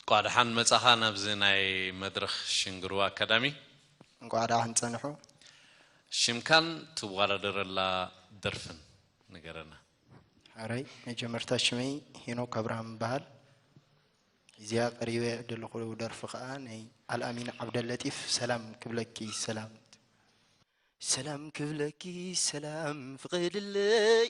እንቋዕ ደሓን መጻኻ ናብዚ ናይ መድረኽ ሽንግርዋ ኣካዳሚ። እንቋዕ ደሓን ጸንሑ። ሽምካን ትዋዳደረላ ደርፍን ንገረና። ሕራይ መጀመርታ ሽመይ ሄኖክ ኣብርሃም ይበሃል። እዚኣ ቀሪበ ዘለኹ ደርፊ ከኣ ናይ ኣልኣሚን ዓብደለጢፍ ሰላም ክብለኪ ሰላም ሰላም ክብለኪ ሰላም ፍቐድለይ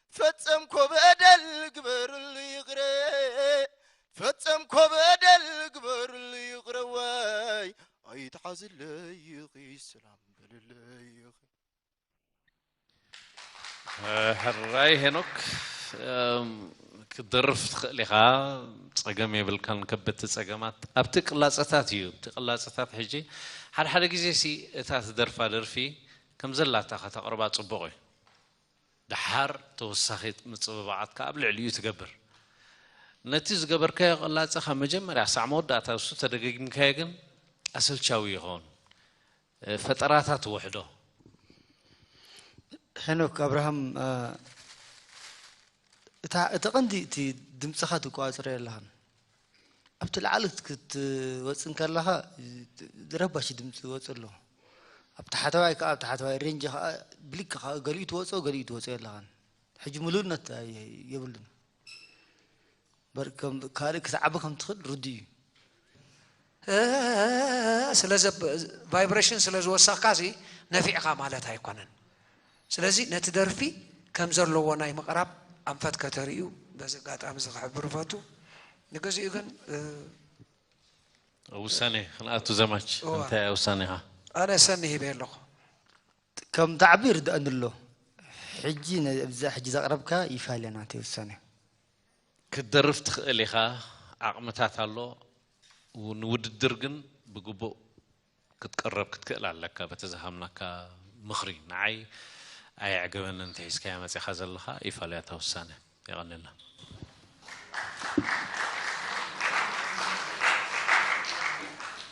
ፈጸምኮ በደል ግበርሉ ይቕረ ፈጸምኮ በደል ግበርሉ ይቕረ ዋይ ኣይትሓዝለይ ኢኺ ሰላም በልለይ ኢኺ ሕራይ ሄኖክ ክትደርፍ ትኽእል ኢኻ ፀገም የብልካን ከበድቲ ፀገማት ኣብቲ ቅላፀታት እዩ እቲ ቅላፀታት ሕጂ ሓደ ሓደ ግዜ ሲ እታ ትደርፋ ደርፊ ከም ዘላታ ከተቕርባ ፅቡቕ እዩ ደሓር ተወሳኺ ምጽብባዓት ከኣ ኣብ ልዕሊኡ ትገብር። ነቲ ዝገበርካዮ ቅላጸ ካብ መጀመርያ ክሳዕ መወዳእታ ንሱ ተደጋጊምካዮ ግን ኣሰልቻዊ ይኸውን። ፈጠራታ ትውሕዶ። ሄኖክ ኣብርሃም እታ እቲ ቀንዲ እቲ ድምጽኻ ትቋጽረዮ ኣለኻን። ኣብቲ ላዕሊ ክትወፅእ እንከለኻ ረባሺ ድምፂ ይወፅ ኣሎ ኣብ ታሕተዋይ ከዓ ኣብ ታሕተዋይ ሬንጅ ከዓ ብሊክ ከዓ ገሊኡ ትወፆ ገሊኡ ትወፆ ኣለኻን ሕጂ ምሉእነት የብሉን ካልእ ክትዓቢ ከም ትኽእል ርዱ እዩ ቫይብሬሽን ስለ ዝወሰኽካ ነፊዕኻ ማለት ኣይኮነን ስለዚ ነቲ ደርፊ ከም ዘለዎ ናይ ምቕራብ ኣንፈት ከተርእዩ በዚ ኣጋጣሚ እዚ ክሕብር እፈቱ። ንግዚኡ ግን ኣብ ውሳኔ ክንኣቱ ዘማች እንታይ እያ ውሳኔኻ? ኣነ ሰኒ ሂበ ኣለኹ። ከም ዳዕብ ይርድኣኒ ኣሎ። ሕጂ ነዛ ሕጂ ዘቕረብካ ይፋለ ናተይ ውሳኔ። ክትደርፍ ትኽእል ኢኻ፣ ዓቕምታት ኣሎ፣ ንውድድር ግን ብግቡእ ክትቅረብ ክትክእል ኣለካ በቲ ዝሃብናካ ምኽሪ ንዓይ ኣየዕገበንን እቲ ሒዝካዮ መጺኻ ዘለኻ ይፋልያ እታ ውሳነ የቐንየልና።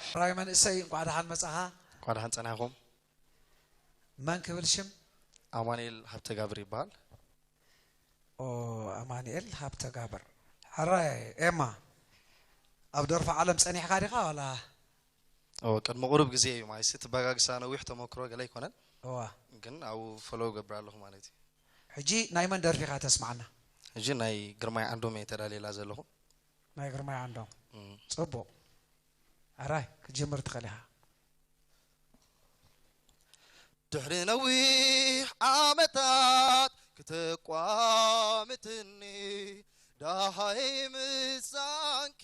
ሕራይ መንእሰይ እንኳዕ ደሓን መፃኻ። እንኳዕ ደሓን ፀናሕኹም። መን ክብል ሽም? ኣማኒኤል ሃብተጋብር ይበሃል። ኣማኒኤል ሃብተጋብር ሕራይ ኤማ ኣብ ደርፊ ዓለም ፀኒሕካ ዲኻ ዋላ እወ ቅድሚ ቁሩብ ግዜ እዩ ማይሲ ትበጋግሳ ነዊሕ ተመክሮ ገለ ኣይኮነን እወ ግን ኣብኡ ፎሎው እገብር ኣለኹ ማለት እዩ። ሕጂ ናይ መን ደርፊ ኢኻ ተስምዓና? ሕጂ ናይ ግርማይ ዓንዶም እየ ተዳልየላ ዘለኹ። ናይ ግርማይ ዓንዶም ጽቡቕ ሕራይ ክትጅምር ትኽእል ኢኻ። ድሕሪ ነዊሕ ዓመታት ክተቋምትኒ ዳሃይ ምሳንኪ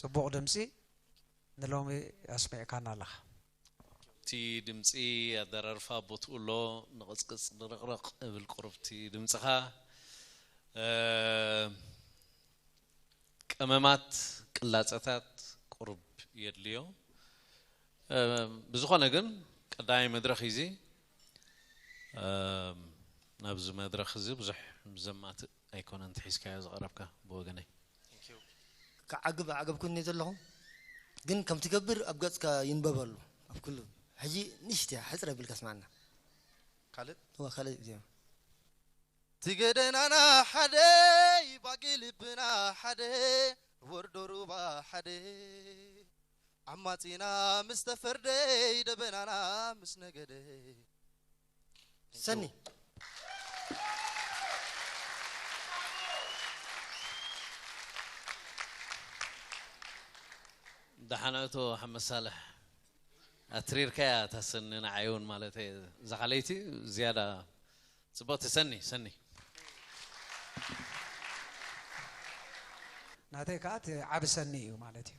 ጽቡቕ ድምጺ ንሎሚ ኣስሚዕካና ኣለኻ። እቲ ድምጺ ኣደራርፋ ኣብ ቦትኡ ኣሎ ንቕጽቅጽ ድርቕርቕ እብል ቁሩብ እቲ ድምጽኻ ቀመማት ቅላጸታት ቁሩብ የድልዮ ብዝኾነ ግን ቀዳማይ መድረኽ እዩ እዚ ናብዚ መድረኽ እዚ ብዙሕ ዘማትእ ኣይኮነን እቲ ሒዝካዮ ዝቐረብካ ብወገነይ። ክዓግብ ኣዕገብኩኒ ዘለኹ ግን ከም ትገብር ኣብ ገጽካ ይንበበሉ ኣብ ኩሉ ሕጂ ንእሽትያ ሕጽረ ቢልካ ስማዓና ካልእ እወ ካልእ ዜማ እቲ ገደናና ሓደ ባጊ ልብና ሓደ ወርዶ ሩባ ሓደ ዓማጺና ምስ ተፈርደ ደበናና ምስ ነገደ ሰኒ ደሓን እቶ ሓመድ ሳልሕ ኣትሪርካያ እታ ሰኒ ንዓይ እውን ማለት እየ እዛ ካለይቲ ዝያዳ ፅብቕቲ ሰኒ ሰኒ ናተይ ከዓ እቲ ዓብ ሰኒ እዩ ማለት እዩ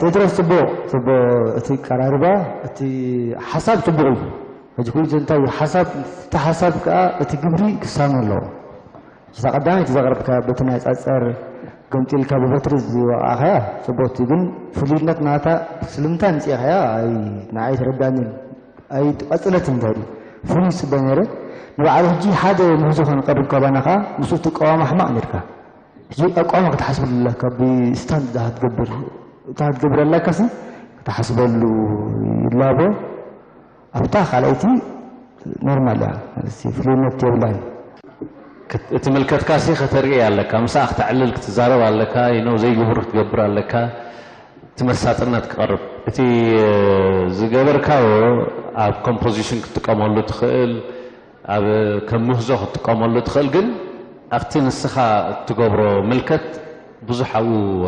ጴጥሮስ ፅቡቕ ፅቡቕ እቲ ቀራርባ እቲ ሓሳብ ፅቡቕ እዩ ሕጂ ኩሉ እንታይ ሓሳብ እቲ ሓሳብ ከዓ እቲ ግብሪ ክሳነ ኣለዎ እታ ቀዳመይቲ ዘቕረብካያ በቲ ናይ ጸጸር ገምጢልካ ብበትሪ ዝወቓዕካያ ጽቡቕቲ ግን ፍሉይነት ናታ ስለምንታይ ኣምጺእካያ ኣይ ንዓይ ኣይተረድኣንን ኣይ ቀጽለትኒ እንታይ ድዩ ፍሉይ ዝጽበ ነይረ ንባዕሉ ሕጂ ሓደ ምህዞ ከንቀርብ ካባና ከኣ ምስኡ ትቃወም ኣሕማቕ ነርካ ሕጂ ኣቋማ ክትሓስበሉ ኣለካ ብስታንድ እታ ክትገብር እታ ክትገብር ኣላካሲ ክትሓስበሉ ይላቦ ኣብታ ካልኣይቲ ኖርማል እያ ማለት ፍሉይነት የብላን። እትምልከትካሲ ከተርእይ ኣለካ ምስኣ ክተዕልል ክትዛረብ ኣለካ you know ዘይግቡር ክትገብር ኣለካ እቲ መሳጥነት ክቐርብ። እቲ ዝገበርካዮ ኣብ ኮምፖዚሽን ክትጥቀመሉ ትኽእል ኣብ ከም ምህዞ ክትጥቀመሉ ትኽእል ግን ኣብቲ ንስኻ እትገብሮ ምልከት ብዙሕ ኣብኡ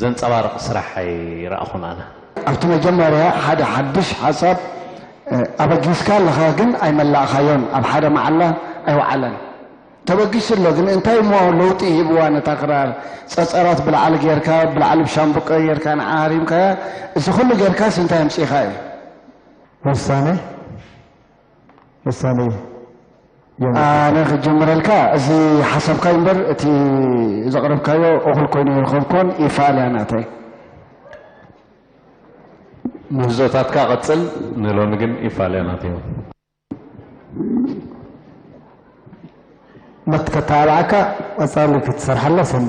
ዘንጸባርቕ ስራሕ ኣይረኣኹን ኣነ። ኣብቲ መጀመርያ ሓደ ሓድሽ ሓሳብ ኣበጊስካ ኣለኻ ግን ኣይመላእኻዮን ኣብ ሓደ መዓላ ኣይወዓለን ተበጊሱ ኣሎ ግን እንታይ እሞ ለውጢ ሂብዋ ነታ ክራር ጸጸራት ብላዕሊ ጌርካ ብላዕሊ ብሻምብቆ ጌርካ ንዓ ሃሪምካያ እዚ ኩሉ ጌርካስ እንታይ ኣምጺእካ እዩ ወሳነ ምሳሌ ዮም። ኣነ ክጅምረልካ እዚ ሓሳብካይ እምበር እቲ ዘቕረብካዮ እኹል ኮይኑ ኣይረኸብኩዎን ይፋል እያ ናተይ። ምህዞታትካ ቀጽል ንሎሚ ግን ይፋል እያ ናተይ። ምት ከተባብዓካ ቀጻሊ ክትሰርሓላ ሰኒ።